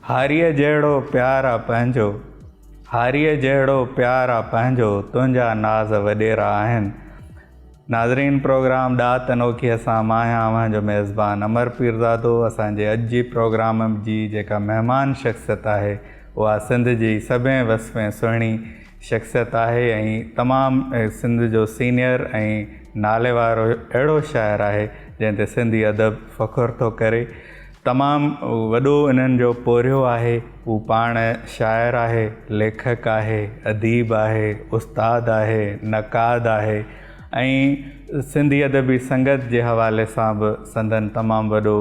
هاريء جهڙو پيار آ پنهنجو، هاريء جهڙو پيار آ پنهنجو، تنهنجا ناز وڏيرا آهن. ناظرين پروگرام ڏات انوکيء سان مان آهيان اوهان جو ميزبان امر پيرزادو اسان جي اڄ جي پروگرام جي جيڪا مهمان شخصيت آهي اها سنڌ جي سڀين وسفين سهڻي شخصيت آهي ۽ تمام سنڌ جو سينئر ۽ ناليوارو اهڙو شاعر آهي جنهن تي سنڌي ادب فخر ٿو ڪري تمام وڏو انهن جو پورهيو آهي هو پاڻ شاعر آهي ليکڪ آهي اديب آهي استاد آهي نقاد آهي ۽ سنڌي ادبي سنگت جي حوالي سان به سندن تمام وڏو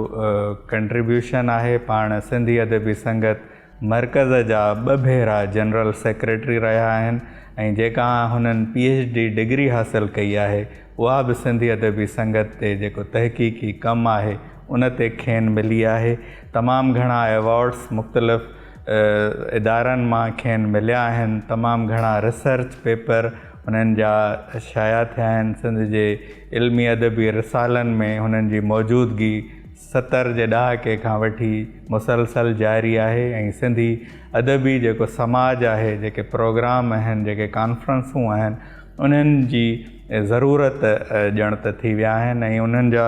ڪنٽريبيوشن آهي پاڻ سنڌي ادبي سنگت مرڪز جا ٻه ڀيرا جنرل سيڪريٽري رهيا آهن ۽ جيڪا هنن پي ايڇ ڊي ڊگري حاصل ڪئي آهي اها به سنڌي ادبي سنگت تي جيڪو تحقيقي ڪم آهي ان تي کين ملي آهي تمام گهڻا ايوارڊس مختلف ادارن مان کين مليا آهن تمام گهڻا ريسرچ پيپر هنن جا شايع ٿيا آهن سنڌ جي علمي ادبي رسالن ۾ هنن جي موجودگي ستر جي ڏهاڪي کان وٺي مسلسل جاري آهي ۽ سنڌي ادبي جيڪو سماج آهي جيڪي پروگرام اهن جيڪي ڪانفرنسون آهن انهن جي ضرورت ڄڻ ته ٿي ويا آهن ۽ انهن جا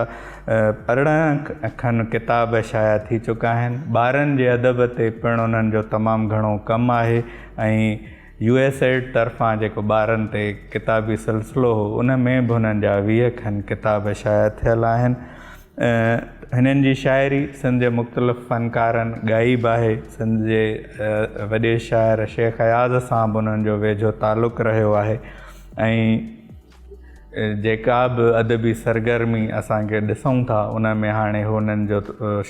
ارڙهن کن ڪتاب شايع ٿي چڪا آهن ٻارن جي ادب تي پڻ انهن جو تمام گهڻو ڪم آهي ۽ يو ايس ايڊ طرفان جيڪو ٻارن تي ڪتابي سلسلو هو ان ۾ به انهن جا ويهه کن ڪتاب شايع ٿيل آهن هنن جي شاعري سنڌ جي مختلف فنڪارن ڳائي به آهي. سنڌ جي وڏي شاعر شيخ اياز سان به انهن جو ويجهو تعلق رهيو آهي ۽ جيڪا به ادبي سرگرمي اسان کي ڏسون ٿا ان ۾ هاڻي هنن جو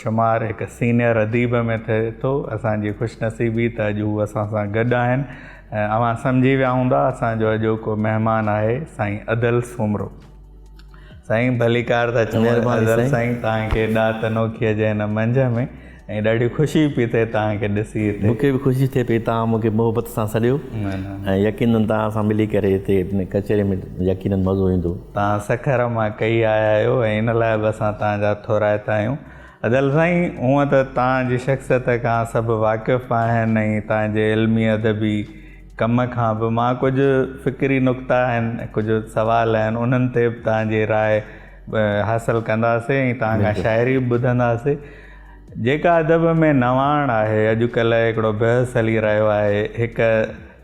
شمار هڪ سينئر اديب ۾ ٿئي ٿو. اسان جي خوش نصيبي ته اڄ هو اسان سان گڏ آهن ۽ اوهان سمجهي ويا هوندا اسان جو اڄوڪو مهمان آهي سائين ادل سومرو. سائين ڀليڪار ٿا چئو مهرباني سائين تان کي ڏات انوکي جي هن منجهه ۾ ۽ ڏاڍي خوشي پي ٿئي تان کي ڏسي هتي مونکي به خوشي ٿئي پي تان مونکي محبت سان سڏيو ۽ يقينن تان سان ملي ڪري هتي هن ڪچهري ۾ يقينن مزو ايندو تان سکر مان ڪئي آيا آهيو ۽ ان لاء به اسان تان جا ٿورائتا آهيون ادل سائين هونء ته تان جي شخصيت کان سڀ واقف آهن ۽ تان جي علمي ادبي ڪم کان به مان ڪجهه فڪري نقطا آهن ڪجهه سوال آهن انهن تي به توهان جي راء حاصل ڪنداسي ۽ توهان کان شاعري به ٻڌنداسي جيڪا ادب ۾ نواڻ آهي اڄ ڪلهه هڪڙو بحث هلي رهيو آهي هڪ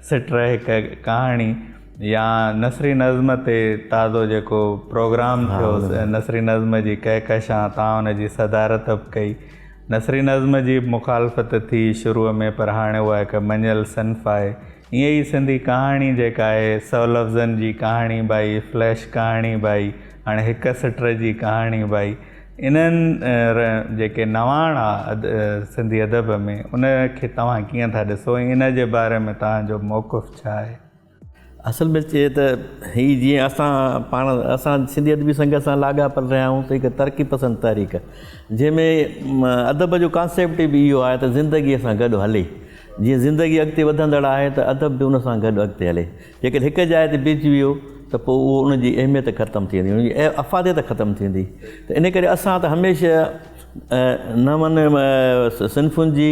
سٽر هڪ ڪهاڻي يا نثري نظم تي تازو جيڪو پروگرام ٿيو نثري نظم جي ڪهڪشان توهان ان جي صدارت به ڪئي نثري نظم جي به مخالفت ٿي شروع ۾ پر هاڻي اها هڪ مڃيل صنف آهي. ائين ئي سنڌي ڪهاڻي جيڪا آهي سو لفظن جي ڪهاڻي به آهي، فليش ڪهاڻي به آهي، هاڻي هڪ سٽر جي ڪهاڻي به آهي. انهن ري جيڪي نواڻ آ سنڌي ادب ۾ ان کي توهان ڪيئن ٿا ڏسو ۽ ان جي باري ۾ توهان جو موقف ڇا آهي؟ اصل ۾ چئي ته هي جيئن اسان پاڻ اسان سنڌي ادبي سنگت سان لاڳاپيل رهيا آهيون ته هڪ ترقي پسند تحريڪ جنهن ۾ ادب جو ڪانسيپٽ به اهو آهي ته زندگي سان گڏ هلي جيئن زندگي اڳتي وڌندڙ آهي ته ادب به ان سان گڏ اڳتي هلي جيڪڏهن هڪ جاء تي بيهجي ويو ته پوء اهو ان جي اهميت ختم ٿي ويندي ان جي افاديت ختم ٿيندي ته ان ڪري اسان ته هميشه نون صنفن جي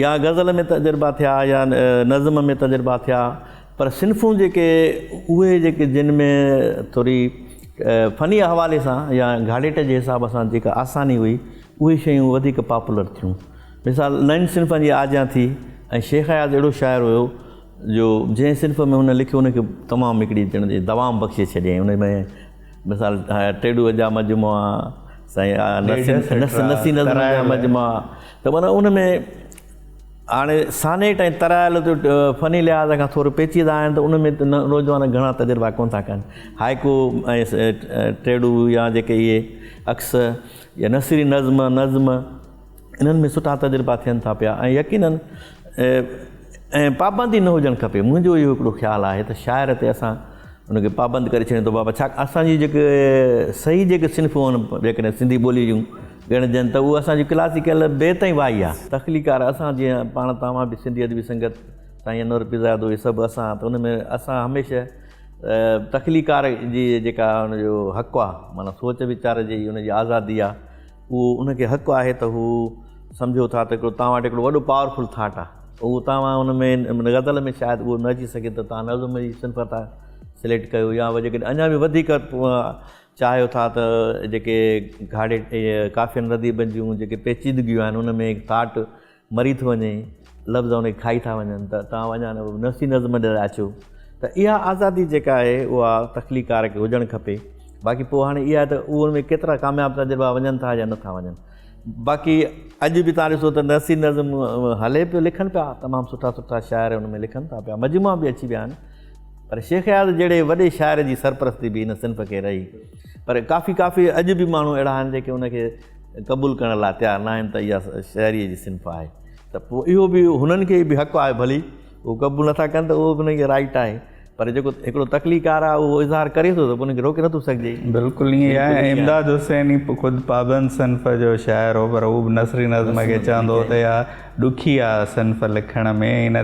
يا غزل ۾ تجربا ٿيا يا نظم ۾ تجربا ٿيا پر صنفون جيڪي اهي جيڪي جن ۾ ٿوري فني حوالي سان يا گهاڙيٽ جي حساب سان جيڪا آساني هئي اهي شيون وڌيڪ پاپولر ٿيون مثال نئن صنفن جي آجيان ٿي ۽ شيخ اياز اهڙو شاعر هيو جو جنهن صنف ۾ هن لکيو ان کي تمام هڪڙي ڄڻ جي دوام بخشي ڇڏيائين ان ۾ مثال ٽيڏوء جا مجموعا، نسي نظمن جا مجموعا ته معنيٰ ان ۾ هاڻي سانيٽ ۽ ترائل فني لحاظ کان ٿورو پيچيدا آهن ته ان ۾ نوجوان گهڻا تجربا ڪونه ٿا ڪن. هائيڪو ۽ ٽيڏو يا جيڪي اهي عڪس يا نثري نظم نظم انهن ۾ سٺا تجربا ٿين ٿا پيا ۽ يقينن ۽ پابندي نه هجڻ کپي منهنجو اهو هڪڙو خيال آهي ته شاعر تي اسان ان کي پابند ڪري ڇڏيون ٿو بابا ڇا اسان جي جيڪي صحيح جيڪي صنفون آهن جيڪڏهن سنڌي ٻولي جون ڳڻجن ته اهو اسان جي ڪلاسيڪل بيت ۽ وائي آهي تخليقار اسان جيئن پاڻ توهان به سنڌي ادبي سنگت سائين انور پيرزاد اهي سڀ اسان ته ان ۾ اسان هميشه تخليقار جي جيڪا ان جو حق آهي معنيٰ سوچ ويچار جي ان جي آزادي آهي اهو ان کي حق آهي ته هو سمجهو ٿا ته هڪڙو توهان وٽ هڪڙو وڏو پاورفل ٿاٽ آهي اهو توهان ان ۾ ان غزل ۾ شايد اهو نه اچي سگهي ته توهان نظم جي صنف ٿا سليڪٽ ڪيو يا وجه ڪڏهن اڃا به وڌيڪ چاهيو ٿا ته جيڪي گهاڙي ڪافين رديبن جون جيڪي پيچيدگيون آهن ان ۾ ٿاٽ مري ٿو وڃي، لفظ ان کي کائي ٿا وڃن ته توهان به اڃا نفسي نظم ڏي رهيا اچو ته اها آزادي جيڪا آهي اها تخليقڪار کي هجڻ کپي باقي پوء هاڻي اها ته اهو ان ۾ ڪيترا ڪامياب تجربا وڃن ٿا يا نٿا وڃن باقي اڄ به تان ڏسو ته نفسي نظم هلي پيو لکن پيا تمام سٺا سٺا شاعر ان ۾ لکن ٿا پيا مجموعا به اچي ويا آهن پر شيخ اياز جهڙي وڏي شاعر جي سرپرستي به ان صنف کي رهي پر ڪافي ڪافي اڄ به ماڻهو اهڙا آهن جيڪي ان کي قبول ڪرڻ لاء تيار ناهن ته اها شهريء جي صنف آهي ته پوء اهو به هنن کي به حق آهي ڀلي هو قبول نٿا ڪن ته اهو به هنن کي رائٽ آهي پر جيڪو هڪڙو تخليقار آهي اهو اظهار ڪري ٿو ته هن کي روڪي نٿو سگهجي بلڪل ائين آهي امداد حسين ئي خود پابند صنف جو شاعر هو پر هو به نثري نظم کي چوندو هو ته اها ڏکي آهي صنف لکڻ ۾ ان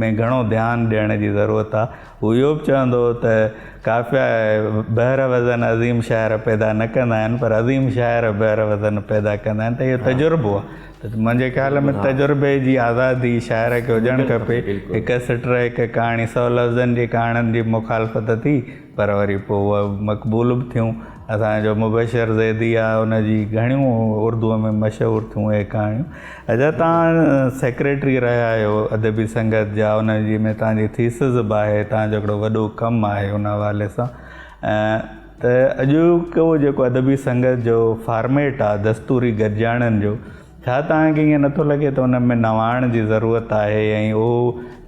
۾ گهڻو ڌيان ڏيڻ جي ضرورت آهي هو اهو به چوندو هو ته قافيا بحر وزن عظيم شاعر پيدا نه ڪندا آهن پر عظيم شاعر بحر وزن پيدا ڪندا آهن ته اهو تجربو آهي منهنجي خيال ۾ تجربي جي آزادي شاعر کي هجڻ کپي هڪ سٽ هڪ ڪهاڻي سؤ لفظن جي ڪهاڻين جي مخالفت ٿي پر وري پوء اهي مقبول به ٿيون اسانجو مبشر زيدي آهي ان جي گهڻيون اردوء ۾ مشهور ٿيون اهي ڪهاڻيون ادا توهان سيڪريٽري رهيا آهيو ادبي سنگت جا ان جي ۾ توهان جي ٿيسز به آهي توهان جو هڪڙو وڏو ڪم آهي ان حوالي سان ته اڄوڪو جيڪو ادبي سنگت جو فارميٽ آهي دستوري گڏجاڻين جو ڇا توهان کي ائين نٿو لڳي ته ان ۾ نواڻ جي ضرورت آهي ۽ اهو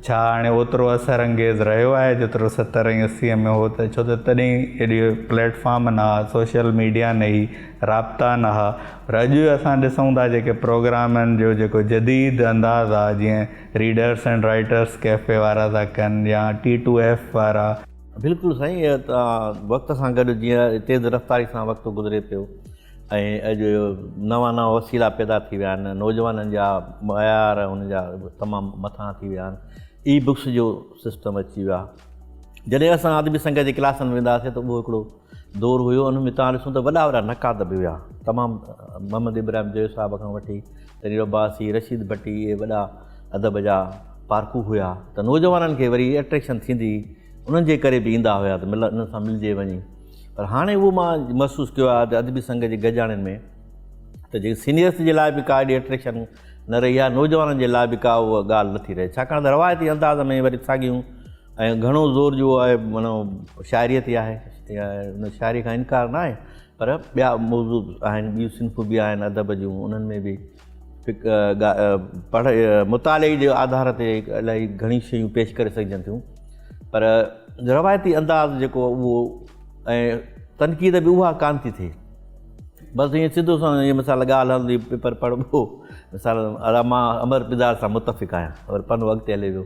ڇا هاڻي اوترو اثر انگيز رهيو آهي جيترو ستر ۽ اسي ۾ هو ته ڇو ته تڏهن اهڙي پليٽ فارم نه هئا سوشل ميڊيا نه هئي رابطا نه هئا پر اڄ اسان ڏسون ٿا جيڪي پروگرامن جو جيڪو جديد انداز آ جيئن ريڊرس اينڊ رائيٽرس ڪيفي وارا ٿا ڪن يا ٽي ٽو ايف وارا. بلڪل سائين وقت سان گڏ جيئن تيز رفتاري سان وقت گذري پيو ۽ اڄ نوان نوان وسيلا پيدا ٿي ويا آهن نوجوانن جا معيار ان جا تمام مٿان ٿي ويا آهن اي بڪس جو سسٽم اچي ويو آهي جڏهن اسان ادبي سنگت جي ڪلاسن ۾ ويندا هئاسين ته اهو هڪڙو دور هيو ان ۾ توهان ڏسون ته وڏا وڏا نقاد به هيا تمام محمد ابراهيم جويي صاحب کان وٺي تنير عباسي رشيد ڀٽي اهي وڏا ادب جا پارکو هيا ته نوجوانن کي وري اٽريڪشن ٿيندي هئي انهن جي ڪري به ايندا هيا ته مل انهن سان ملجي وڃي پر هاڻي اهو مان محسوس ڪيو آهي ته ادبي سنگ جي گڏجاڻين ۾ ته جيڪي سينيئرس جي لاء به ڪا اهڙي اٽريڪشن نه رهي آهي نوجوانن جي لاء به ڪا اها ڳالهه نٿي رهي ڇاڪاڻ ته روايتي انداز ۾ وري ساڳيون ۽ گهڻو زور جو آهي معنيٰ شاعريء تي آهي يا ان شاعريء کان انڪار نه آهي پر ٻيا موضوع آهن ٻيون صنفون به آهن ادب جون انهن ۾ به پڙهي مطالعي جي آڌار تي الاهي گهڻي شيون پيش ڪري سگهجن ٿيون پر روايتي انداز جيڪو اهو ۽ تنقيد به اها ڪانه ٿي ٿئي بس ائين سڌو سان ائين مثال ڳالهه هلندي پيپر پڙهبو مثال ادا مان امر پدار سان متفق آهيان پر پنو اڳتي هلي ويو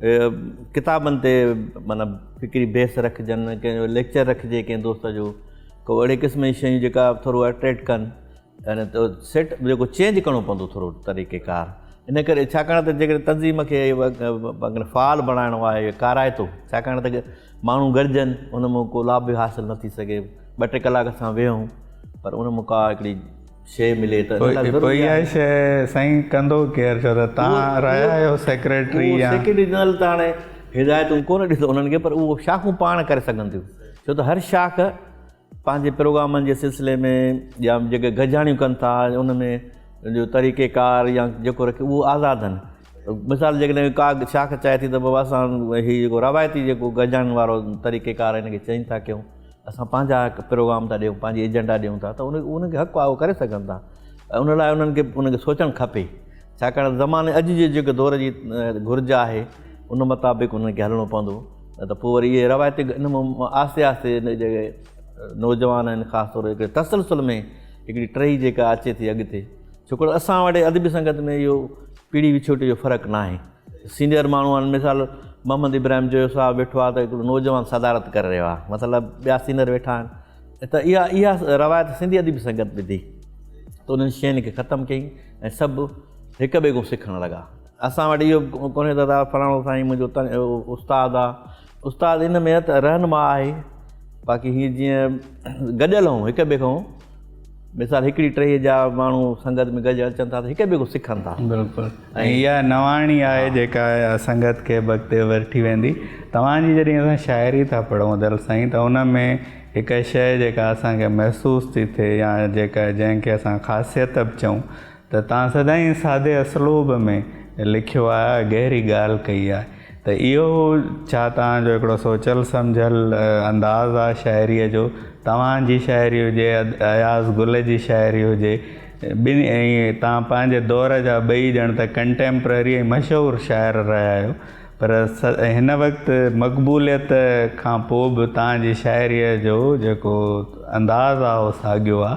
ڪتابن تي معنيٰ فڪري بحث رکجن ڪنهن جو ليڪچر رکجي ڪنهن دوست جو ڪو اهڙي قسم جي شيون جيڪا ٿورو اٽريڪٽ ڪن يعني تو سيٽ جيڪو چينج ڪرڻو پوندو ٿورو طريقي ڪار ان ڪري ڇاڪاڻ ته جيڪڏهن تنظيم کي اگر فعال بڻائڻو آهي اهو ڪارائتو ڇاڪاڻ ته ماڻهو گڏجن ان مان ڪو لابھ به حاصل نه ٿي سگهي ٻه ٽي ڪلاڪ اسان ويهون پر ان مان ڪا هڪڙي شيء ملي ته ان لاء ضروري آهي. اها شيء سائين ڪندو ڪير ڇو ته تهان رهيا آهيو سيڪريٽري يا. سيڪريٽري جنرل ته هاڻي هدايتون ڪونه ڏي ٿو انهن کي پر اهو شاخون پاڻ ڪري سگهن ٿيون ڇو ته هر شاخ پنهنجي پروگرامن جي سلسلي ۾ يا جيڪي گڏجاڻيون ڪن ٿا ان ۾ جو طريقي ڪار يا جيڪو رکي اهو آزاد آهن مثال جيڪڏهن ڪا شاخ چاهي ٿي ته بابا اسان هي جيڪو روايتي جيڪو گڏجاڻين وارو طريقي ڪار هن کي چينج ٿا ڪيون اسان پنهنجا پروگرام ٿا ڏيون پنهنجي ايجنڊا ڏيون ٿا ته ان ان کي حق آهي اهو ڪري سگهن ٿا ۽ ان لاء انهن کي ان کي سوچڻ کپي ڇاڪاڻ ته زماني اڄ جي جيڪو دور جي گهرج آهي ان مطابق انهن کي هلڻو پوندو نه ته پوء وري اهي روايتي ان مان آهستي آهستي ان جي نوجوان آهن خاص طور هڪڙي تسلسل ۾ هڪڙي ٽهي جيڪا اچي ٿي اڳتي ڇوڪر اسان وٽ ادبي سنگت ۾ اهو پيڙهي وڇوٽي جو فرق ناهي سينئر ماڻهو آهن مثال محمد ابراهيم جويو صاحب ويٺو آهي ته هڪڙو نوجوان صدارت ڪري رهيو آهي مطلب ٻيا سينئر ويٺا آهن ته اها اها روايت سنڌي ادبي سنگت وڌي ته انهن شين کي ختم ڪيئي ۽ سڀ هڪ ٻئي کان سکڻ لڳا اسان وٽ اهو ڪونهي ته فلاڻو سائين منهنجو استاد آهي استاد ان ۾ ته رهنما آهي باقي هي جيئن گڏيل هون هڪ ٻئي کان مثال هڪڙي ٽهي جا ماڻهو سنگت ۾ گڏجي اچن ٿا ته هڪ ٻئي کان سکن ٿا بلڪل ۽ اها نواڻي آهي جيڪا سنگت کي اڳتي وٺي ويندي توهان جي جڏهن اسان شاعري ٿا پڙهون دل سائين ته ان ۾ هڪ شيء جيڪا اسان کي محسوس ٿي ٿئي يا جيڪا جنهن کي اسان خاصيت به چئون ته تان سدائين سادي اسلوب ۾ لکيو آ گهري ڳالهه ڪئي آ ته اهو ڇا تان جو هڪڙو سوچيل سمجهيل انداز آ شاعري جو توهان جي شاعري هجي اياز گل جي شاعري هجي ٻنهي ۽ تان پنهنجي دور جا ٻئي ڄڻ ته ڪنٽيمپرري ۽ مشهور شاعر رهيا آهيو پر هن وقت مقبوليت کان پوء به تان جي شاعري جو جيڪو انداز آ اهو ساڳيو آ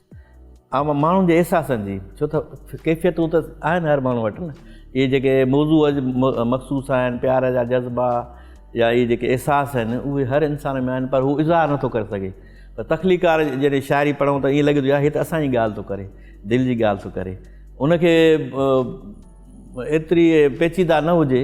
عام ماڻهن جي احساسن جي ڇو ته ڪيفيتون ته آهن هر ماڻهو وٽ نه اهي جيڪي موضوع مخصوص آهن پيار جا جذبا يا اهي جيڪي احساس آهن اهي هر انسان ۾ آهن پر هو اظهار نٿو ڪري سگهي پر تخليقار جڏهن شاعري پڙهون ته ائين لڳي ٿو هي ته اسان جي ڳالهه ٿو ڪري دل جي ڳالهه ٿو ڪري ان کي ايتري پيچيده نه هجي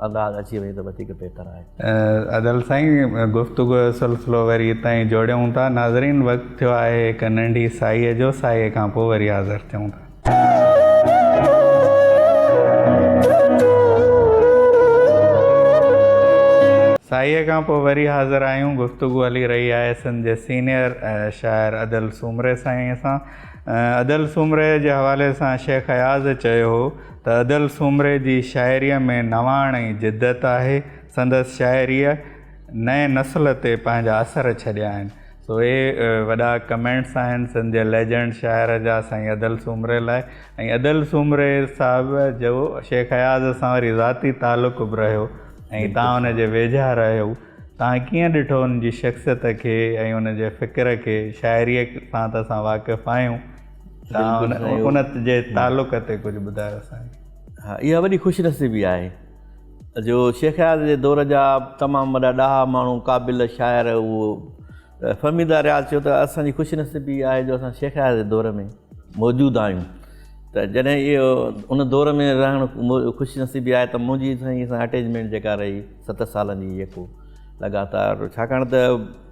ڳالهه اچي وئي ته وڌيڪ بهتر آهي. ادل سائين گفتگو جو سلسلو وري هتان ئي جوڙيون ٿا ناظرين وقت ٿيو آهي هڪ ننڍي ساهيء جو ساهيء کان پوء وري حاضر ٿيون ٿا. ساهيء کان پوء وري حاضر آهيون گفتگو هلي رهي آهي سنڌ جي سينيئر شاعر ادل سومري سائينء سان ادل سومري جي حوالي سان شيخ اياز چيو هو تدل سومري جي شاعريء ۾ نواڻ ۽ جدت آهي. سندس شاعريء نئين نسل تي پنهنجا اثر ڇڏيا آهن. سو اهي وڏا ڪمينٽس آهن سنڌ جي ليجنڊ شاعر جا سائين ادل سومري لاء ۽ ادل سومري صاحب جو شيخ اياز سان وري ذاتي تعلق به رهيو ۽ تان ان جي ويجها رهيو تان ڪيئن ڏٺو ان جي شخصيت کي ۽ ان جي فڪر کي شاعريء سان ته اسان واقف آهيون تان ان جي تعلق تي ڪجهه ٻڌايو سائين ها اها وڏي خوش نصيبي آهي جو شيخ اياز جي دور جا تمام وڏا ڏاها ماڻهو قابل شاعر اهو فهميده رياض چيو ته اسان جي خوش نصيبي آهي جو اسان شيخ اياز جي دور ۾ موجود آهيون ته جڏهن اهو ان دور ۾ رهڻ خوش نصيبي آهي ته منهنجي سائين سان اٽيچمينٽ جيڪا رهي ست سالن جي يڪو لڳاتار ڇاڪاڻ ته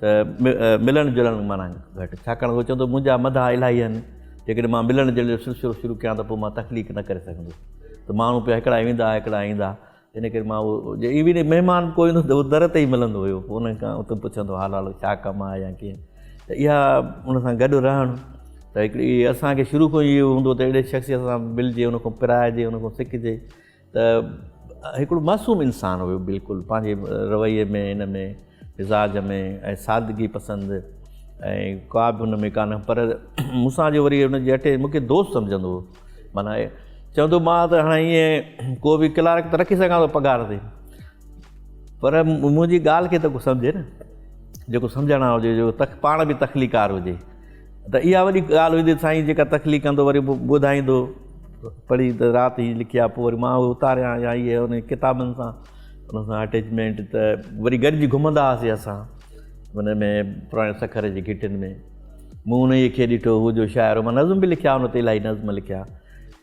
ته ملڻ جلڻ معنيٰ گهٽ، ڇاڪاڻ هو چوندو منهنجا مداح الاهي آهن، جيڪڏهن مان ملڻ جلڻ جو سلسلو شروع ڪيان ته پوء مان تخليق نه ڪري سگهندس ته ماڻهو پيا هڪڙا ويندا هڪڙا ايندا ان ڪري مان اهو جي ايون مهمان به ڪو ايندو ته اهو در تي ئي ملندو هيو پوء انهن کان اتي پڇندو حال حال ڇا ڪم آهي يا ڪيئن ته اها ان سان گڏ رهڻ ته هڪڙي اسان کي شروع کان ئي اهو هوندو ته اهڙي شخصيت سان ملجي ان کان پرائجي ان کان سکجي ته هڪڙو معصوم انسان هيو بلڪل پنهنجي رويي ۾ هن ۾ مزاج ۾ ۽ سادگي پسند ۽ ڪا به هن ۾ ڪانه پر مون سان جو وري هن جي اٽي مون کي دوست سمجهندو هو معنيٰ چوندو هو مان ته هاڻي ائين ڪو به ڪلارڪ ته رکي سگهان ٿو پگهار تي پر منهنجي ڳالهه کي ته ڪو سمجهي نه جيڪو سمجهڻ وارو هجي جو تخ پاڻ به تخليقار هجي ته اها وڏي ڳالهه هوندي سائين جيڪا تخليق ڪندو وري به ٻڌائيندو پڙهي ته رات هي لکي آ پوء وري مان اهي اتاريان يا اهي ان ڪتابن سان ان سان اٽيچمينٽ ته وري گڏجي گهمندا هئاسين اسان ان ۾ پراڻي سکر جي گهٽين ۾ مون انهيء کي ڏٺو هو جو شاعر هو مان نظم به لکيا ان تي الاهي نظم لکيا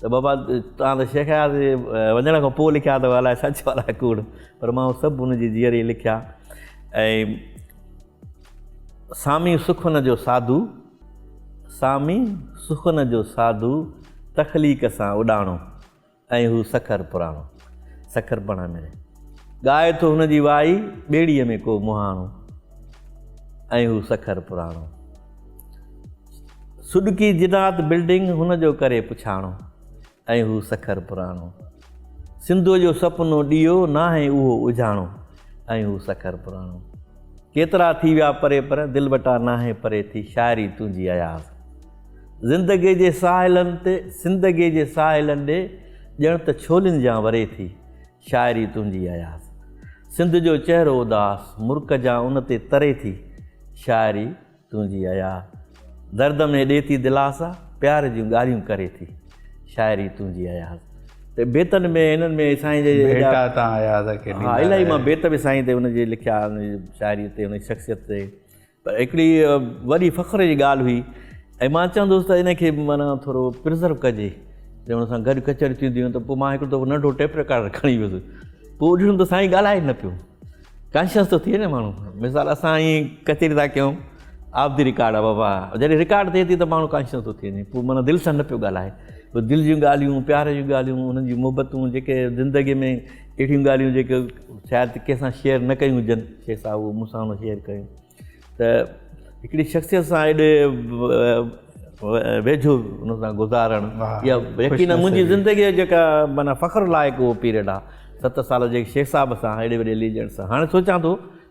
ته بابا توهان ته شيخ اياز جي وڃڻ کان پوء لکيا اٿو الائي سچ آ الائي ڪوڙ پر مان اهي سڀ ان جي جيئري لکيا ۽ سامي سخن جو ساڌو سامي سخن جو ساڌو تخليق سان اڏاڻو ۽ هو سکر پراڻو سکر پڻ ملي ڳائي ٿو هن جي وائي ٻيڙيء ۾ ڪو مهاڻو ۽ هو سکر پراڻو سڏڪي جنات بلڊنگ هن جو ڪري پڇاڻو ۽ هو سکر پراڻو سنڌوء جو سپنو ڏيئو ناهي اهو اجهاڻو ۽ هو سکر پراڻو ڪيترا ٿي ويا پري پر دل وٽا ناهي پري ٿي شاعري تنهنجي اياز زندگي جي ساحلن تي زندگي جي ساحلن ڏي ڄڻ ته ڇولين جان وري ٿي شاعري تنهنجي اياز. سنڌ جو چهرو اداس. مرڪ جان ان تي تري ٿي. شاعري تنهنجي اياز. درد ۾ ڏي ٿي دلاسا. پيار جون ڳالهيون ڪري ٿي. شاعري تنهنجي اياز. ته بيتن ۾ هنن ۾ سائين جي ايڏا ڀيٽا تان اياز کي ڏيندا رهيا. الاهي مان بيت به سائين تي هن جي لکيا شاعري تي هن جي شخصيت تي. پر هڪڙي وڏي فخر جي ڳالهه هئي ۽ مان چوندو هوس ته ان کي معنيٰ ٿورو پرزرو ڪجي جي ان سان گڏ ڪچهريون ٿينديون هيون ته پوء مان هڪڙو دفعو ننڍو ٽيپ رڪارڊر کڻي ويس پوء ڏٺم ته سائين ڳالهائي نه پيو ڪانشيس ٿو ٿئي نه ماڻهو مثال اسان ائين ڪچهري ٿا ڪيون آف دي رڪارڊ آف ابا جڏهن رڪارڊ ٿئي ٿي ته ماڻهو ڪانشيس ٿو ٿئي وڃي پوء معنيٰ دل سان نه پيو ڳالهائي دل جون ڳالهيون پيار جون ڳالهيون انهن جون محبتون جيڪي زندگي ۾ اهڙيون ڳالهيون جيڪي شايد ڪنهن سان شيئر نه ڪيون هجن شيخ صاحب اهو مون سان هن شيئر ڪيون ته هڪڙي شخصيت سان ايڏي ويجهو ان سان گذارڻ يا يقينا منهنجي زندگي جيڪا معنيٰ فخر لائق اهو پيريڊ آهي ست سال جيڪي شيخ صاحب سان ايڏي وڏي ليجنڊ سان هاڻي سوچان ٿو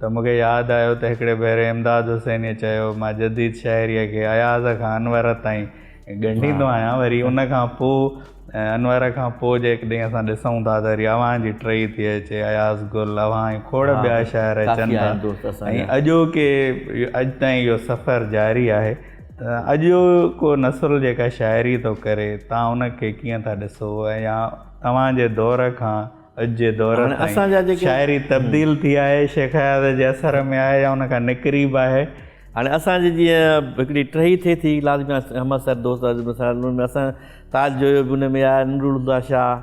ته مون کي ياد آيو ته هڪڙي ڀيري امداد حسينيء چيو، مان جديد شاعريء کي اياز کان انور تائين ڳنڍيندو آهيان، وري ان کان پوء ۽ انور کان پوء جيڪڏهن اسان ڏسون ٿا ته وري اوهان جي ٽرئي ٿي اچي، اياز گل، اوهان ۽ کوڙ ٻيا شاعر اچن ٿا ۽ اڄوڪي اڄ تائين اهو سفر جاري آهي ته اڄوڪو نسل جيڪا شاعري ٿو ڪري، تان ان کي ڪيئن ٿا ڏسو ۽ يا توهان جي دور کان. اڄ جي دور تائين شاعري تبديل ٿي آهي شيخ اياز جي اثر ۾ آهي يا ان کان نڪري به آهي. هاڻي اسان جي جيئن هڪڙي ٽهي ٿئي ٿي لازمي احمد سر دوست عزيز احمد سر ان ۾ اسان تاج جويو به ان ۾ آهي نور الهديٰ شاهه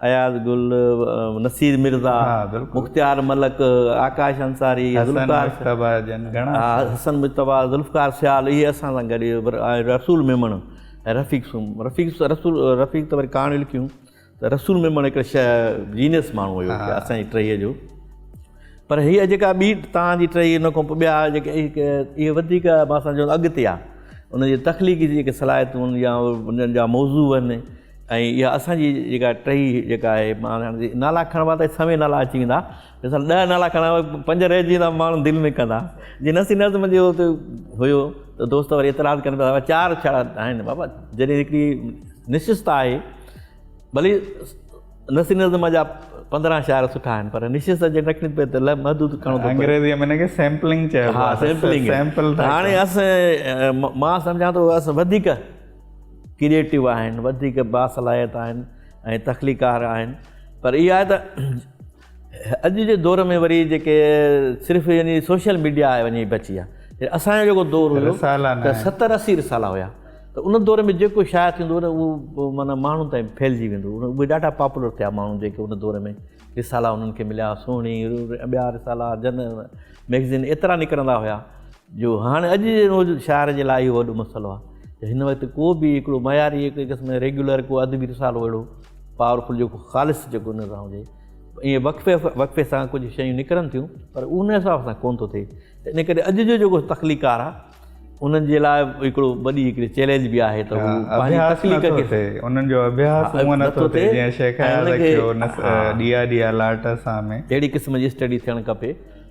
اياز گل نصير مرزا مختيار ملڪ آڪاش انصاري حسن مجتبيٰ ذوالفقار سيال اهي اسان سان گڏ رسول ميمڻ رفيق سومرو رفيق رسول رفيق ته وري ڪهاڻيون لکيون ته رسول ميمڻ هڪڙي شيء جينيس ماڻهو هيو اسان جي ٽهيء جو پر هيء جيڪا ٻي تان جي ٽهيء ان کان پوء ٻيا جيڪي اهي وڌيڪ مان سان جو اڳتي آ ان جي تخليقي جيڪي صلاحيتون يا انهن جا موضوع آهن ۽ اها اسان جي جيڪا ٽهي جيڪا آهي مان هاڻ جي نالا کڻبا ته سوين نالا اچي ويندا مثال ڏهه نالا کڻا پنج رهجي ويندا ماڻهو دل ۾ ڪندا جي نسي نظم جي هو ته هيو ته دوست وري اعتراض ڪن پيا چار ڇا آهن بابا جڏهن هڪڙي نشست آهي ڀلي نثري نظم جا پندرهن شاعر سٺا آهن پر نشست جي نقل پي ته محدود ڪرڻو ٿو انگريزي ۾ هن کي سيمپلنگ چئبو ها سيمپلنگ سيمپل هاڻي اس مان سمجهان ٿو اس وڌيڪ ڪرييٽو آهن وڌيڪ باصلاحيت آهن ۽ تخليقار آهن پر اها ته اڄ جي دور ۾ وري جيڪي صرف يعني سوشل ميڊيا آهي وڃي بچي آ اسان جو جيڪو دور هو رسالا نه ستر اسي رسالا هيا ته ان دور ۾ جيڪو شايع ٿيندو هو نه اهو معنيٰ ماڻهن تائين ڦهلجي ويندو هو اهي ڏاڍا پاپولر ٿيا ماڻهو جيڪي ان دور ۾ رسالا انهن کي مليا سهڻي ٻيا رسالا جن ميگزين ايترا نڪرندا هيا جو هاڻي اڄ جي روز شاعر جي لاء اهو وڏو مسئلو آهي ته هن وقت ڪو به هڪڙو معياري هڪ قسم جو ريگيولر ڪو ادبي رسالو اهڙو پاور فل جيڪو خالص جيڪو نظر هجي ائين وقفي وقفي سان ڪجهه شيون نڪرن ٿيون پر ان حساب سان ڪون ٿو ٿئي ته ان ڪري اڄ جو جيڪو تخليقار آهي انهن جي لاء هڪڙو وڏي هڪڙي چئلينج به آهي ته پنهنجي تخليق کي انهن جو اڀياس هونء نه ٿو ٿئي جيئن شيخ اياز ڏيا ڏيا لاٽ سان ۾ اهڙي قسم جي اسٽڊي ٿيڻ کپي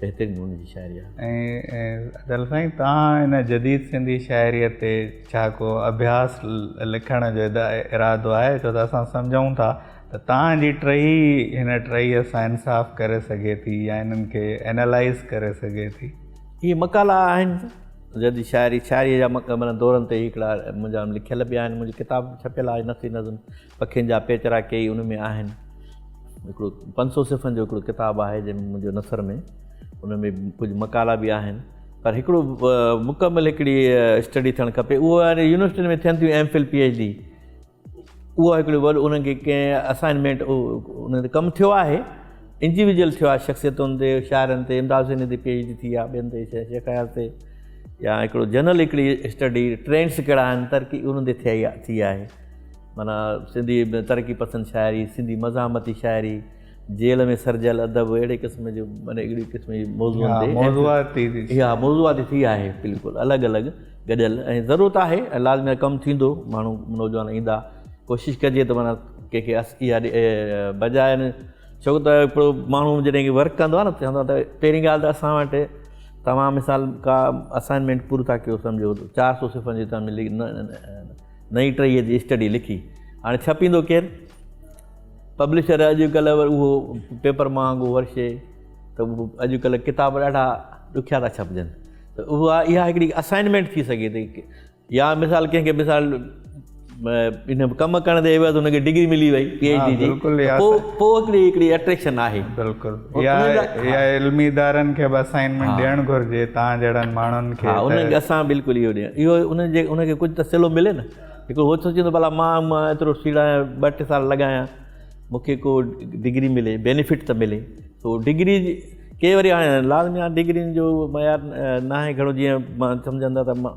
بهترين نموني جي شاعري آهي. ۽ دل سائين توهان ان جديد سنڌي شاعري تي ڇا ڪو اڀياس لکڻ جو ارادو آهي ڇو ته اسان سمجهون ٿا ته توهان جي ٽهي هن ٽهي سان انصاف ڪري سگهي ٿي يا انهن کي اينالائز ڪري سگهي ٿي. اهي مقالا آهن جديد شاعري شاعري جا مڪمل دورن تي هڪڙا منهنجا لکيل به آهن منهنجي ڪتاب به ڇپيل آهي نثري نظم. پکين جا پيچرا ڪيئي ان ۾ آهن. هڪڙو پنج سؤ صفحن جو هڪڙو ڪتاب آهي جنهن ۾ منهنجو نثر ۾ ان ۾ ڪجهه مقالا به آهن پر هڪڙو مڪمل هڪڙي اسٽڊي ٿيڻ کپي اهو هاڻي يونيورسٽين ۾ ٿين ٿيون M Phil P H D اهو هڪڙو وڏو انهن کي ڪنهن اسائنمينٽ انهن تي ڪم ٿيو آهي انڊيويجل ٿيو آهي شخصيتن تي شاعرن تي امداد حسين تي پي ايڇ ڊي ٿي آهي ٻين تي شيخ اياز تي يا هڪڙو جنرل هڪڙي اسٽڊي ٽرينس ڪهڙا آهن ترقي انهن تي ٿي آهي معنيٰ سنڌي ترقي پسند شاعري، سنڌي مزاحمتي شاعري، جيل ۾ سرجيل ادب اهڙي قسم جو معنيٰ اهڙي قسم جي موضوعن تي موضوعاتي اها موضوعاتي ٿي آهي بلڪل الڳ الڳ گڏيل ۽ ضرورت آهي ۽ لازمي ڪم ٿيندو ماڻهو نوجوان ايندا ڪوشش ڪجي ته معنيٰ ڪنهن کي اس اها بجاء ڇو ته هڪڙو ماڻهو جڏهن کي ورڪ ڪندو آهي نه چوندو آهي ته پهرين ڳالهه ته اسان وٽ توهان مثال ڪا اسائنمينٽ پورو ٿا ڪيو سمجهو چار سو صفحن جي توهان ملي نئين ٽهيء جي اسٽڊي لکي. هاڻي ڇپيندو ڪير؟ پبلشر اڄ ڪلهه وري اهو پيپر مهانگو ورشي ته اڄ ڪلهه ڪتاب ڏاڍا ڏکيا ٿا ڇپجن ته اها اها هڪڙي اسائنمينٽ ٿي سگهي ٿي يا مثال ڪنهن کي مثال ان ڪم ڪرڻ جي عوض هن کي ڊگري ملي وئي پي ايچ ڊي جي پوء هڪڙي هڪڙي اٽريڪشن آهي بلڪل يا يا علمي ادارن کي به اسائنمينٽ ڏيڻ گهرجي تان جهڙن ماڻهن کي ها انهن کي اسان بلڪل اهو ڏيڻ اهو انهن جي انهن کي ڪجهه ته صلو ملي نه هڪڙو هو ٿو چوندو ڀلا مان مان ايترو سيڙايان ٻه ٽي سال لڳايان مون کي ڪو ڊگري ملي بينيفٽ ته ملي سو ڊگري ڪي وري هاڻي لازمي آهي ڊگرين جو معيار ناهي گهڻو جيئن مان سمجهندا ته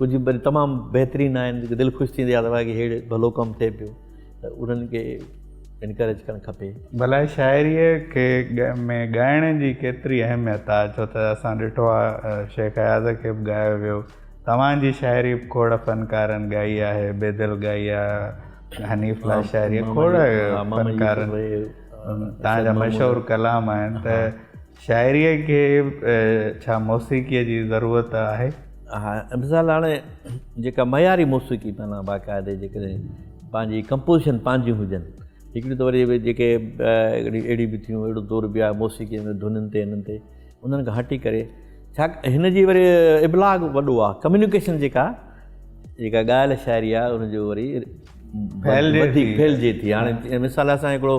ڪجهه وري تمام بهترين آهن جيڪي دل خوش ٿيندي آهي ته هيڙي ڀلو ڪم ٿئي پيو ته انهن کي انڪريج ڪرڻ کپي. ڀلا شاعريء کي ۾ ڳائڻ جي ڪيتري اهميت آهي ڇو ته اسان ڏٺو آهي شيخ اياز کي به ڳايو ويو توهان جي شاعري به کوڙ فنڪارن ڳائي آهي بيدل ڳائي آهي حنيف لاء شاعري کوڙ فنڪارن توهان جا مشهور ڪلام آهن ته شاعريء کي ڇا موسيقيء جي ضرورت آهي؟ ها مثال هاڻي جيڪا معياري موسيقي معنيٰ باقاعدي جيڪڏهن پنهنجي ڪمپوزيشن پنهنجيون هجن هڪڙيون ته وري جيڪي هڪڙي اهڙي به ٿيون اهڙو دور به آهي موسيقي ۾ ڌنن تي هنن تي انهن کان هٽي ڪري ڇا هن جي وري ابلاغ وڏو آهي ڪميونيڪيشن جيڪا جيڪا ڳايل شاعري آهي ان جو وري ڦهلجي ٿي هاڻي مثال اسان هڪڙو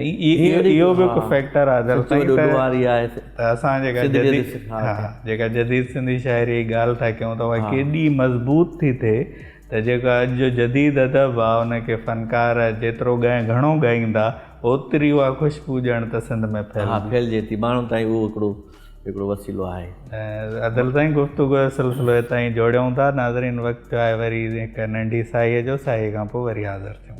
اهو به هڪ فيڪٽر آهي دراصل ته اسان جيڪا جديد جيڪا جديد سنڌي شاعري جي ڳالهه ٿا ڪيون ته اها ڪيڏي مضبوط ٿي ٿئي ته جيڪو اڄ جو جديد ادب آهي ان کي فنڪار جيترو ڳائين گهڻو ڳائيندا اوتري اها خوشبو ڄڻ ته سنڌ ۾ ڦهلجي ٿي ماڻهن تائين اهو هڪڙو هڪڙو وسيلو آهي. ادل سائين گفتگو جو سلسلو هتان ئي جوڙيون ٿا ناظرين وقت ٿيو آهي وري هڪ ننڍي ساهيء جو ساهيء کان پوء وري حاضر ٿيون.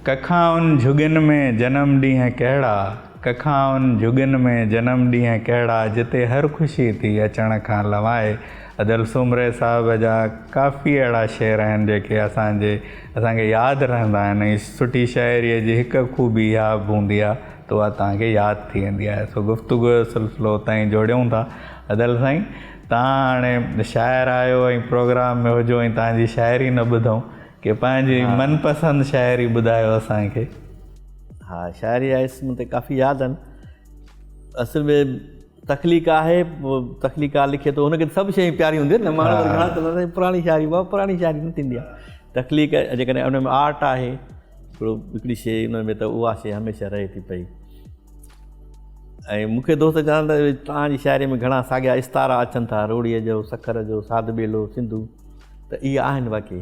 ڪکائن جهڳين ۾ جنم ڏينهن ڪهڙا. ڪکائن جهڳن ۾ جنم ڏينهن ڪهڙا جتي هر خوشي ٿي اچڻ کان لوائي ادل سومري صاحب جا ڪافي اهڙا شعر آهن جيڪي اسان جي اسان کي ياد رهندا آهن ۽ سٺي شاعري جي هڪ خوبي اها به هوندي آهي ته اها توهان کي ياد ٿي ويندي آهي سو گفتگو جو سلسلو اتان ئي جوڙيون ٿا ادل سائين توهان هاڻي شاعر آهيو ۽ پروگرام ۾ هجو ۽ توهان جي شاعري نه ٻڌون ڪي پنهنجي من پسند شاعري ٻڌايو اسان کي ها شاعري آهي اسم تي ڪافي ياد آهن اصل ۾ تخليق آهي تخليقار لکي ٿو هنکي سڀ شيون پياريون هونديون آهن ماڻهو گهڻا چوندا پراڻي شاعري بابا پراڻي شاعري نه ٿيندي آهي تخليق جيڪڏهن ان ۾ آرٽ آهي هڪڙو هڪڙي شي ان ۾ ته اها شي هميشه رهي ٿي پئي ۽ مونکي دوست چون ته تنهنجي شاعري ۾ گهڻا ساڳيا استارا اچن ٿا روڙيء جو سکر جو ساڌ ٻيلو سنڌو ته اهي آهن واقعي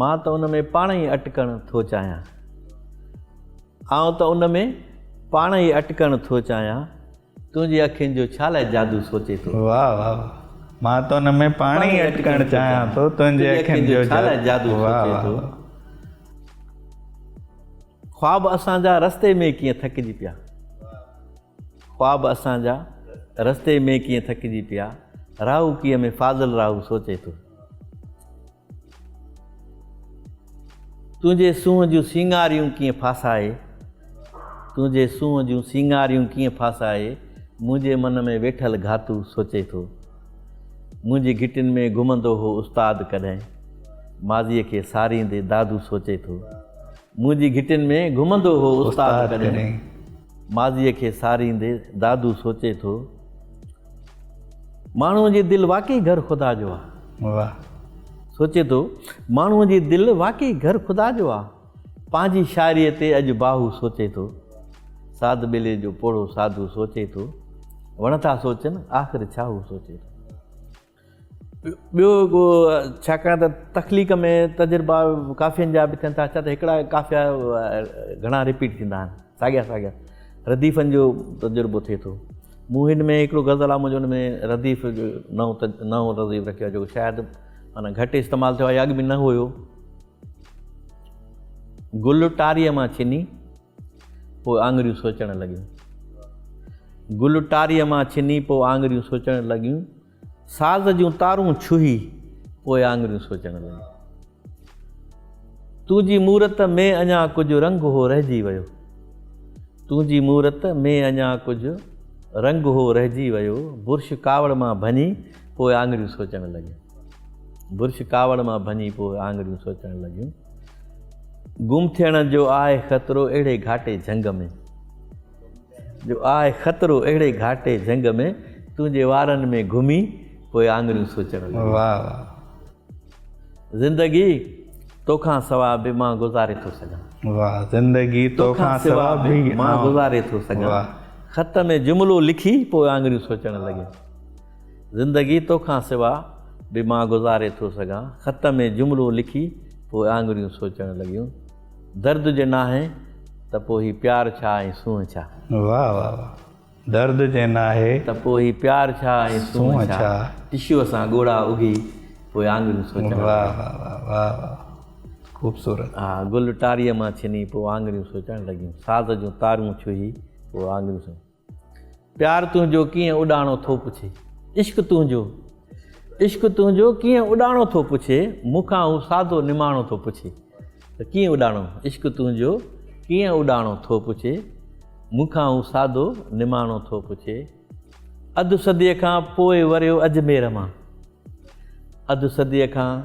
مان ته ان ۾ پاڻ ئي اٽڪڻ ٿو چاهيان. آئون ته ان ۾ پاڻ ئي اٽڪڻ ٿو چاهيان. تنهنجي اکين جو ڇا لاء جادو سوچي ٿو. واهه واهه مان ته ان ۾ پاڻ ئي اٽڪڻ چاهيان ٿو تنهنجي اکين جو ڇا لاء جادو سوچي ٿو. خواب اسان جا رستي ۾ ڪيئن ٿڪجي پيا. خواب اسان جا رستي ۾ ڪيئن ٿڪجي پيا راهو ڪيئن ۾ فاضل راهو سوچي ٿو تنهنجي سونهن جون سينگاريون ڪيئن ڦاسائي تنهنجي سونهن جون سينگاريون ڪيئن ڦاسائي منهنجي من ۾ ويٺل گهاتو سوچي ٿو منهنجي گهٽين ۾ گهمندو هو استاد ڪڏهن ماضي کي ساريندي دادو سوچي ٿو منهنجي گهٽين ۾ گهمندو هو استاد ڪڏهن. ماضيء کي ساريندي دادو سوچي ٿو. ماڻهوء جي دل واقعي گهر خدا جو آ. واهه. سوچي ٿو. ماڻهوء جي دل واقعي گهر خدا جو آ. پنهنجي شاعريء تي اڄ باهو سوچي ٿو. ساڌ ٻيلي جو پوڙهو ساڌو سوچي ٿو. وڻ ٿا سوچن آخر ڇاهو سوچي ٿو. ٻيو ڪو ڇاڪاڻ ته تخليق ۾ تجربا ڪافين جا به ٿين ٿا ڇا ته هڪڙا ڪافيا گهڻا رپيٽ ٿيندا آهن ساڳيا ساڳيا رديفن جو تجربو ٿئي ٿو مون هن ۾ هڪڙو غزل آ منهنجو ان ۾ رديف جو نئون نئون رديف رکيو آهي جيڪو شايد معنيٰ گهٽ استعمال ٿيو آهي يا اڳ به نه هيو گل ٽاريء مان ڇني، پوء آڱريون سوچڻ لڳيون. گل ٽاريء مان ڇني، پوء آڱريون سوچڻ لڳيون. ساز جون تارون ڇهي، پوء آڱريون سوچڻ لڳيون. تنهنجي مورت ۾ اڃا ڪجهه رنگ هو رهجي ويو. تنهنجي مورت ۾ اڃا ڪجهه رنگ هو رهجي ويو. برش ڪاوڙ مان ڀڃي، پوء آڱريون سوچڻ لڳيون. برش ڪاوڙ مان ڀڃي پوء آڱريون سوچڻ لڳيون. گم ٿيڻ جو آهي خطرو اهڙي گهاٽي جهنگ ۾. جو آهي خطرو اهڙي گهاٽي جهنگ ۾. تنهنجي وارن ۾ گهمي پوء آڱريون سوچڻ لڳيون. واهه واهه. زندگي توکان سوا به مان گذاري ٿو سگهان. واهه زندگي توکان سوا به مان گذاري ٿو سگهان. خط ۾ جملو لکي پوء آڱريون سوچڻ لڳيون. زندگي توکان سوا به مان گذاري ٿو سگهان خط ۾ جملو لکي پوء آڱريون سوچڻ لڳيون درد جي ناهي ته پوء هي پيار ڇا ۽ سونهن ڇا. واهه واهه واهه درد جي ناهي. ته پوء هي پيار ڇا ۽ سونهن ڇا. ٽشوء سان ڳوڙها اگهي پوء آڱريون سوچڻ لڳيون. واهه واهه واهه واهه واهه خوبصورت. ها گل ٽاريء مان ڇني پوء آڱريون سوچڻ لڳيون ساز جون تارون ڇهي پوء آڱريون سوچڻ. پيار تنهنجو ڪيئن اڏاڻو ٿو پڇي عشق تنهنجو عشق تنهنجو ڪيئن اڏاڻو ٿو پڇي مون کان هو سادو نماڻو ٿو پڇي ته ڪيئن اڏاڻو عشق تنهنجو ڪيئن اڏاڻو ٿو پڇي مون کان هو سادو نماڻو ٿو پڇي اڌ صديء کان پوء وريو اجمير مان اڌ صديء کان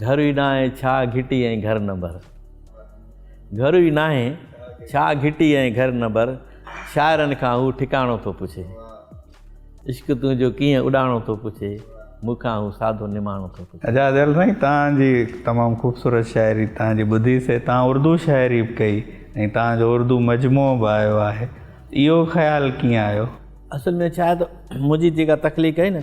گهر ئي ناهي ڇا گهٽي ۽ گهر نمبر گهر ئي ناهي ڇا گهٽي ۽ گهر نمبر شاعرن کان هو ٺڪاڻو ٿو پڇي عشق تنهنجو ڪيئن اڏاڻو ٿو پڇي مون کان هو سادو نماڻو ٿو پڇي اعجاز ايل سائين تان جي تمام خوبصورت شاعري تان جي ٻڌي سي تان اردو شاعري به ڪئي ۽ تان جو اردو مجموعو به آيو آهي اهو خيال ڪيئن آيو اصل ۾ ڇا آهي ته منهنجي جيڪا تخليق آهي نه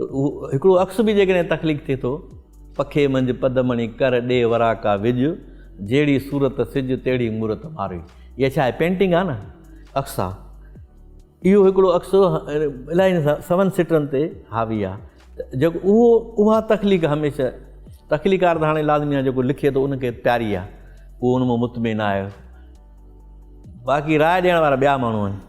هڪڙو عڪس به جيڪڏهن تخليق ٿئي ٿو، پکي منجهه پدمڻي ڪر ڏي وراڪا وج، جهڙي صورت سج تهڙي مورت ماروئي. اها ڇا آهي پينٽنگ آهي نه عڪس آهي. اهو هڪڙو عڪس الاهي سون سٽرن تي حاوي آهي ته جيڪو اهو اها تخليق هميشه تخليقار ته هاڻي لازمي آهي جيڪو لکي ٿو ان کي پياري آهي اهو ان مان مطمئن آهي باقي راء ڏيڻ وارا ٻيا ماڻهو آهن.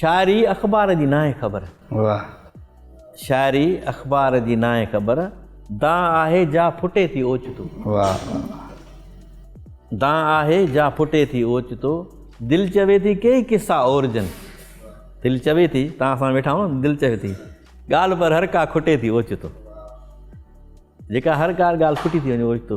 شاعري اخبار جي ناهي خبر. واھ. شاعري اخبار جي ناهي خبر دانهن آهي جا ڦٽي ٿي اوچتو. واھ واھ. دانهن آهي جا ڦٽي ٿي اوچتو دل چوي ٿي ڪيئي قصا اورجن. دل چوي ٿي توهان سان ويٺا آهيون دل چوي ٿي ڳالهه پر هر ڪا کٽي ٿي اوچتو. جيڪا هر ڪا ڳالهه کٽي ٿي وڃي اوچتو.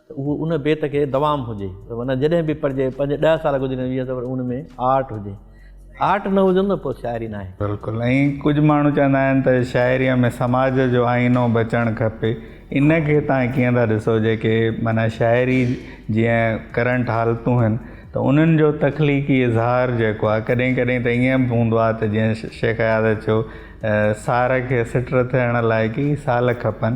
ته اهو ان بيت کي دوام هجي ته ورنه جڏهن به پڙهجي پنج ڏهه سال گذري ويهه ته وري ان ۾ آرٽ هجي آرٽ نه هجن ته پوء شاعري ناهي. بلڪل ائين ڪجهه ماڻهو چوندا آهن ته شاعريء ۾ سماج جو آئينو به اچڻ کپي ان کي تهان ڪيئن ٿا ڏسو جيڪي معنيٰ شاعري جيئن ڪرنٽ حالتون هن ته انهن جو تخليقي اظهار جيڪو آهي ڪڏهن ڪڏهن ته ائين به هوندو آهي ته جيئن شيخ اياز چيو سار کي سٽر ٿيڻ لاء ڪي سال کپن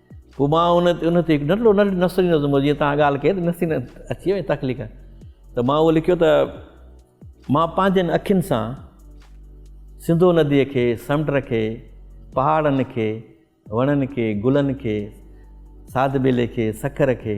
پوء مان ان تي ان تي هڪ ننڍڙو ننڍڙو نثري نظم جيئن تان ڳالهه ڪئي ته نثري اچي وئي تخليق ته مان اهو لکيو ته مان پنهنجن اکين سان سنڌو نديء کي سمنڊ کي پهاڙن کي وڻن کي گلن کي ساد ٻيلي کي سکر کي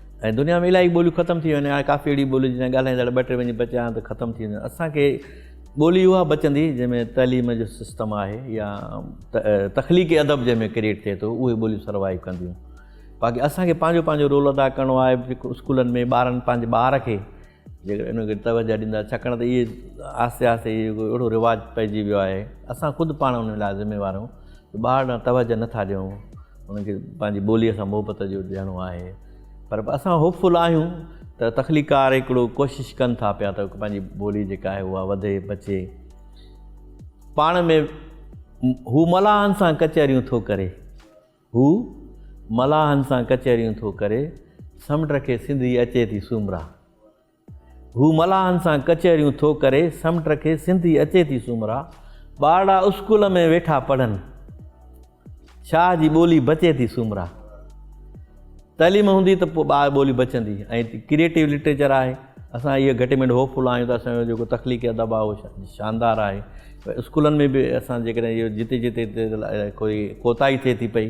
۽ دنيا ۾ الاهي ٻوليون ختم ٿي ويون هاڻي ڪافي اهڙي ٻوليون جنهن جا ڳالهائيندڙ ٻه ٽي وڃي بچيا آهن ته ختم ٿي وينديون اسان کي ٻولي اها بچندي جنهن ۾ تعليم جو سسٽم آهي يا تخليقي ادب جنهن ۾ ڪريئيٽ ٿئي ٿو اهي ٻوليون سروائيو ڪنديون باقي اسان کي پنهنجو پنهنجو رول ادا ڪرڻو آهي اسڪولن ۾ ٻارن پنهنجي ٻار کي جيڪڏهن انهن کي توجهه ڏيندا ڇاڪاڻ ته اهي آهستي آهستي اهي ڪو اهڙو رواج پئجي ويو آهي اسان خود پاڻ ان لاء ذميوار آهيون ته ٻار ڏانهن توجهه نٿا ڏيون انهن کي پنهنجي ٻوليء سان محبت جو ڏيڻو آهي پر اسان هوپ فل آهيون ته تخليقار هڪڙو ڪوشش ڪن ٿا پيا ته پنهنجي ٻولي جيڪا آهي اها وڌي بچي پاڻ ۾ هو ملاحن سان ڪچهريون ٿو ڪري هو ملاحن سان ڪچهريون ٿو ڪري، سمنڊ کي سنڌي اچي ٿي سومرا. هو ملاحن سان ڪچهريون ٿو ڪري، سمنڊ کي سنڌي اچي ٿي سومرا. ٻارڙا اسڪول ۾ ويٺا پڙهن، شاهه جي ٻولي بچي ٿي سومرا. تعليم هوندي ته پوء ٻار ٻولي بچندي ۽ ڪريئيٽو لٽريچر آهي. اسان اهي گهٽي مينڊ هوپ فل آهيون ته اسان جو جيڪو تخليقي ادب آهي اهو شاندار آهي. اسڪولن ۾ به اسان جيڪڏهن اهو جتي جتي ڪوئي ڪوتاهي ٿئي ٿي پئي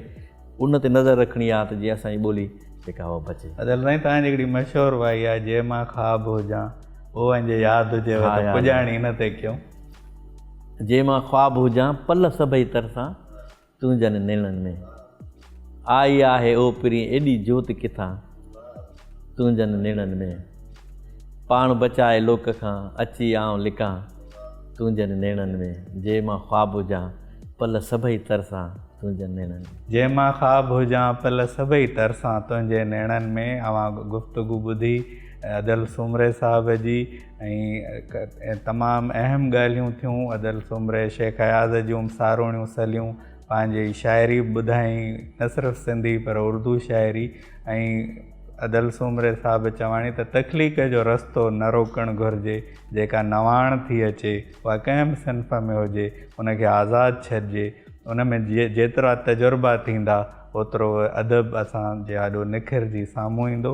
ان تي نظر رکڻي آهي ته جيئن اسانجي ٻولي جيڪا اها بچي. اجل سائين توهان جي هڪڙي مشهور وائي آهي جي مان خواب هجان اوهان جي ياد هجيو ته پڄاڻي ان تي ڪيون. جي مان خواب هجان پل سڀئي ترسان. تنهنجن نيڻن ۾ آئي آهي او پرين ايڏي جوت ڪٿان تنهنجن نيڻن ۾، پاڻ بچائي لوڪ کان اچي آئون لڪان تنهنجن نيڻن ۾، جي مان خواب هجان پل سڀئي ترسان تنهنجن نيڻن ۾. جي مان خواب هجان پل سڀئي ترسان تنهنجي نيڻن ۾، اوهان گفتگو ٻڌي ادل سومري صاحب جي. ۽ تمام اهم ڳالهيون ٿيون ادل سومري شيخ اياز جون به ساروڻيون سليون پنهنجي شاعري به ٻڌائين نه صرف سنڌي پر اردو شاعري ۽ ادل سومري صاحب چواڻي ته تخليق جو رستو نه روڪڻ گهرجي جيڪا نواڻ ٿي اچي اها ڪنهن به صنف ۾ هجي ان کي آزاد ڇڏجي ان ۾ جيترا تجربا ٿيندا اوترو ادب اسان جي آڏو نکرجي سامهون ايندو